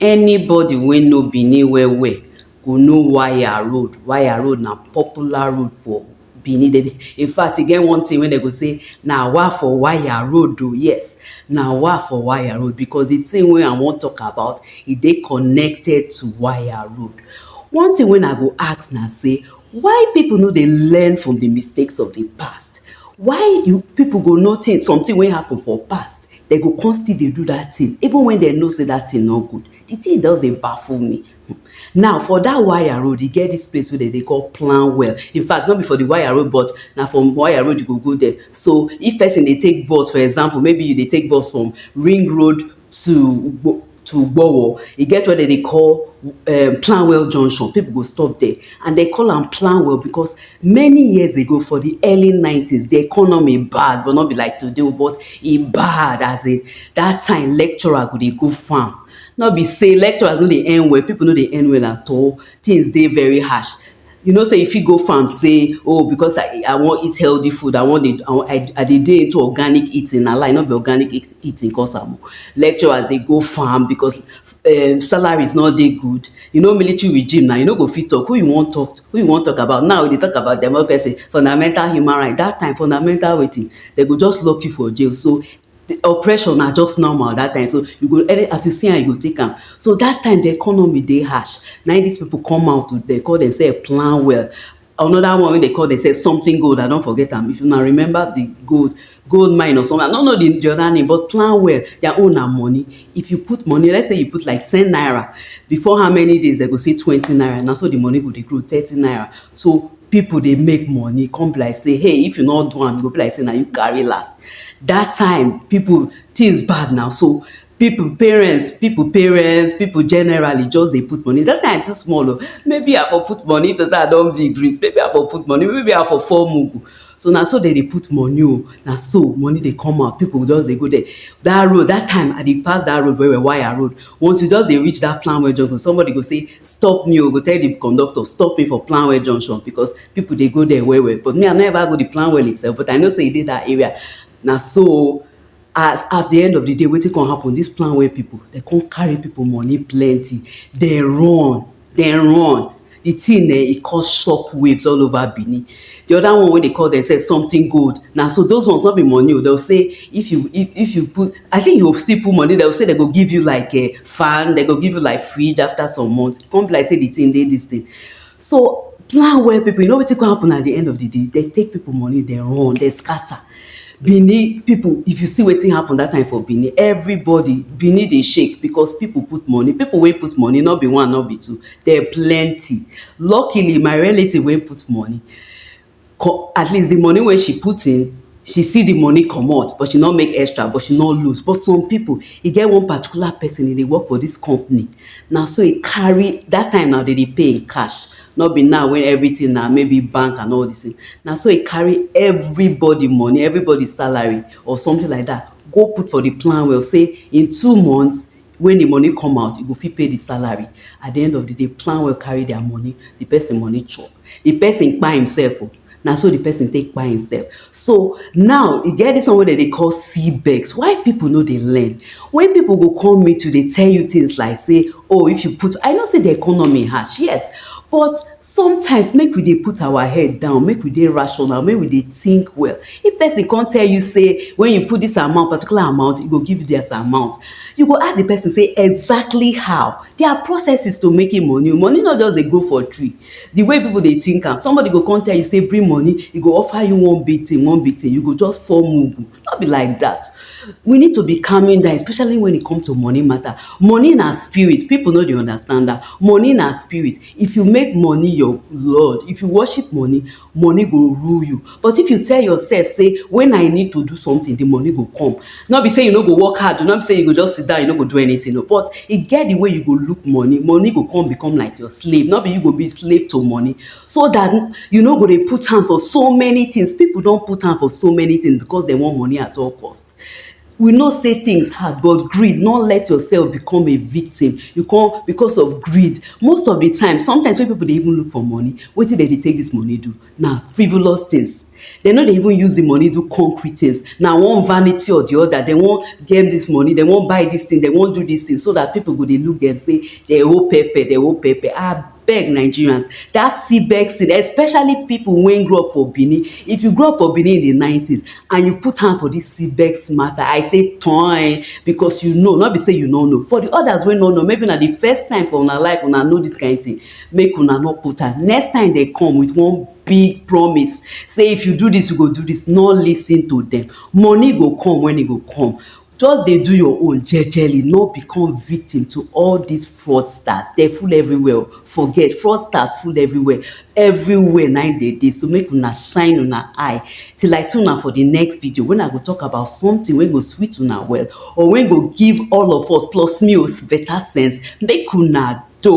Anybody wey know Benin well well go know wire road. Wire road na popular road for Benin. Dem dey in fact e get one thing wey dem go say na wa for wire road o. Yes na wa for wire road because the thing wey I wan talk about e dey connected to wire road. One thing wey I go ask na sey why people no dey learn from the mistakes of the past? Why you people go notice something wey happen for past Dem go come still dey do that thing even when dem know say that thing no good. The thing just dey baffle me. Now, for that wire road, e get this place wey dem dey call plan well. In fact, no be for the wire road, but na from wire road you go go there. So, if person dey take bus, for example, maybe you dey take bus from Ring Road to to Gbowo, e get where dem dey call um Planwell Junction, pipu go stop there and dem call am Planwell because many years ago for the early nineties, the economy bad but no be like today o but e bad as in that time lecturer go dey go farm. No be sey lecturers no dey earn well, pipu no dey earn well at all, things dey very harsh. you know say you fit go farm say oh because i i wan eat healthy food i wan dey i i dey dey into organic eating na lie no be organic eating cause am oh lecturers dey go farm because um salaries no dey good you know military regime na you no go fit talk who you wan talk who you wan talk about now we dey talk about democracy fundamental human right that time fundamental wetin dem go just lock you for jail so the oppression na just normal that time so you go any as you see am you go take am so that time the economy dey harsh na him this people come out to dey call themselves plan well another one wey dey call themselves something gold I don forget am if una remember the gold gold mine or something I no know the other name but plan well their own na money if you put money let's say you put like ten naira before how many days dem go say twenty naira na so the money go dey grow thirty naira so people dey make money come be like say hey if you no do am e go be like say na you carry last that time people things bad now so people parents people parents people generally just dey put money that time I too small o maybe I for put money to say I don big reach maybe I for put money maybe I for form mugu so na so dem dey put money o na so money dey come out people go just dey go there that road that time I dey pass that road well well wire road Once you just dey reach that Planwell junction, somebody go say, stop me o, go tell the conductor, stop me for Planwell junction because people dey go there well well. But me, I no ever go the Planwell itself, but I know say e dey that area. Na so at, at the end of the day, wetin come happen, this Planwell people, they come carry people money plenty, they run. dem run the thing eh, e cause shock waves all over Benin. The other one wey dey call themselves something gold. Na so those ones no be money o. Oh, They'll say if you if, if you put I think you still put money, they'll say they go give you like a eh, fan, they go give you like fridge after some months. E come be like say the thing dey this thing. So plan well people, you know wetin come happen at the end of the day? They take people money, they run, they scatter. Benin pipu, if you see wetin happen dat time for Benin, everybody, Benin dey shake because pipu put money. Pipu wey put money no be one, no be two, dem plenty. Luckily, my relative wey put money, co at least, the money wey she put in, she see the money comot, but she no make extra, but she no lose. But some pipu, e get one particular pesin, e dey work for dis company. Na so e carry, dat time now, de dey pay in cash. no be now wey everything na maybe bank and all this thing na so e carry everybody money everybody salary or something like that go put for the plan well say in two months when the money come out e go fit pay the salary at the end of the day plan well carry their money the person money chop the person kpai himself o na so the person take kpai himself so now e get this one wey dem dey call CBEX why people no dey learn when people go come meet you dey tell you things like say oh if you put I know say the economy harsh yes but sometimes make we dey put our head down make we dey rational make we dey think well if person come tell you say when you put this amount particular amount e go give you this amount you go ask the person say exactly how there are processes to making money money no just dey grow for tree Di way pipo dey tink am, somebody go come tell you say bring money, e go offer you one big tin, one big tin, you go just fall mugu. No be like dat. We need to be calming down especially wen e come to money mata. Money na spirit, pipo no dey understand am. Money na spirit, if you make money your lord, if you worship money, money go rule you but if you tell yourself say when I need to do something the money go come not be say you no go work hard not be say you go just sit down you no go do anything no but e get the way you go look money money go come become like your slave not be you go be slave to money so that you no go dey put hand for so many things people don put hand for so many things because they want money at all cost We know say things hard but greed no let yourself become a victim you come because of greed most of the time sometimes when people dey even look for money wetin dem dey take this money do na frivolous things dem no dey even use the money do concrete things na one vanity or the other dem wan get this money dem wan buy this thing dem wan do this thing so that people go dey look dem say dem owe pepper dem owe pepper ah beg nigerians dat cbex thing especially pipo wey grow up for benin if you grow up for benin in di nineties and you put hand for dis cbex mata i say toin becos you know no be say you no know for di odas wey no know maybe na di first time for una life una know dis kain tin make una no put hand next time dem come wit one big promise say if you do dis you go do dis no listen to dem money go come wen e go come Just dey do your own jejely no become victim to all dis fraudsters dem full everywhere o forget fraudsters full everywhere everywhere na im dem dey so make una shine una eye till I see una for the next video when I go talk about something wey go sweet una well or wey go give all of us plus me o better sense make una doh.